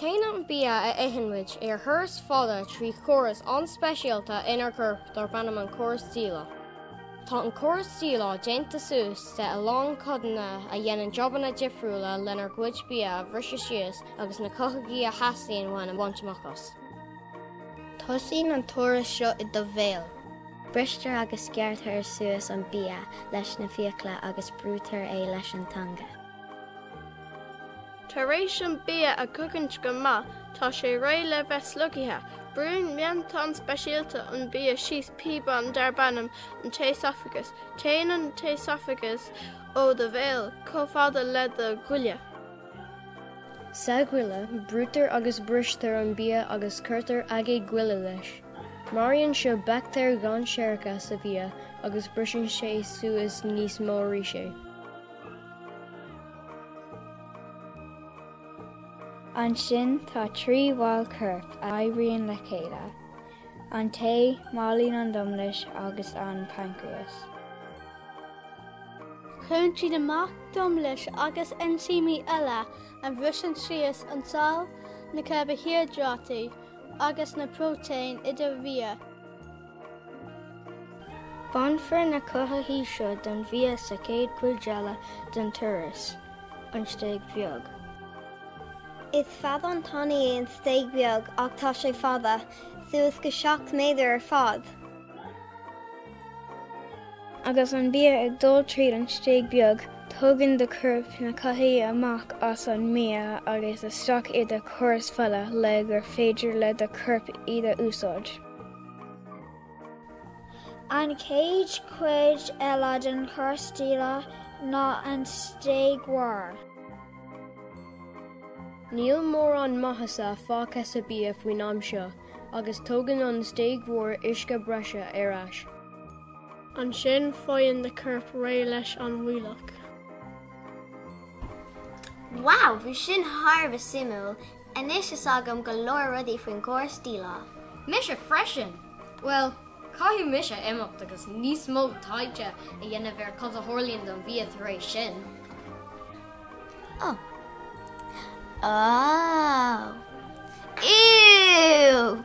Téann an bia a itheann muid ar thuras fada trí chóras an-speisialta inár gcorp darb ainm an córas díleá. Tá an córas díleá déanta suas de a lán codanna a dhéanann jabanna difriúla lenár gcuid bia a bhriseadh síos agus na cothaithigh a theastaíonn uainn a bhaint amach as. Tosaíonn an turas seo i do bhéal. Bristear agus gearrtar suas an bia leis na fiacla agus brúitear é leis an teanga. Tar éis an bia a chogaint go maith tá sé réidh le bheith slogtha. Brúnn matán speisialta an bia síos píobán darb ainm an t-éasafagas. Téann an t-éasafagas ó do bhéal chomh fada le do ghoile. Sa ghoile, brúitear agus bristear an bia agus cuirtear aigéad goile leis. Maraíonn seo baictéir dhainséaracha sa bhia agus briseann sé suas níos mó arís é. Ansin tá trí bhall coirp a oibríonn le chéile, an t-ae, máilín an domlais agus an paincréas. Cuireann siad amach domlais agus einsímí eile a bhriseann síos an tsaill, na carbaihiodráití agus na próitéiní i do bhia. Bainfear na cothaithigh seo den bhia sa chéad chuid eile den turas, an stéig bheag. Is feadán tanaí é an stéig bheag ach tá sé fada, suas go 7 méadar ar fad. Agus an bia ag dul tríd an stéig bheag, tógann do chorp na cothaithigh amach as an mbia agus isteach i do chóras fola le gur féidir le do chorp iad a úsáid. An chéad chuid eile den chóras díleá ná an stéig mhór. Níl mórán maitheasa fágtha sa bhia faoin am seo agus tógann an stéig mhór uisce breise ar ais. Ansin faigheann do chorp réidh leis an bhfuílleach. Wow, bhí sin thar a bheith suimiúil! Anois tá a fhios agam go leor rudaí faoin gcóras díleá. Mise freisin! Bhuel, caithfidh mise imeacht agus níos mó taighde a dhéanamh ar cad a tharlaíonn don bhia tar éis sin. Oh. Oh. Ew!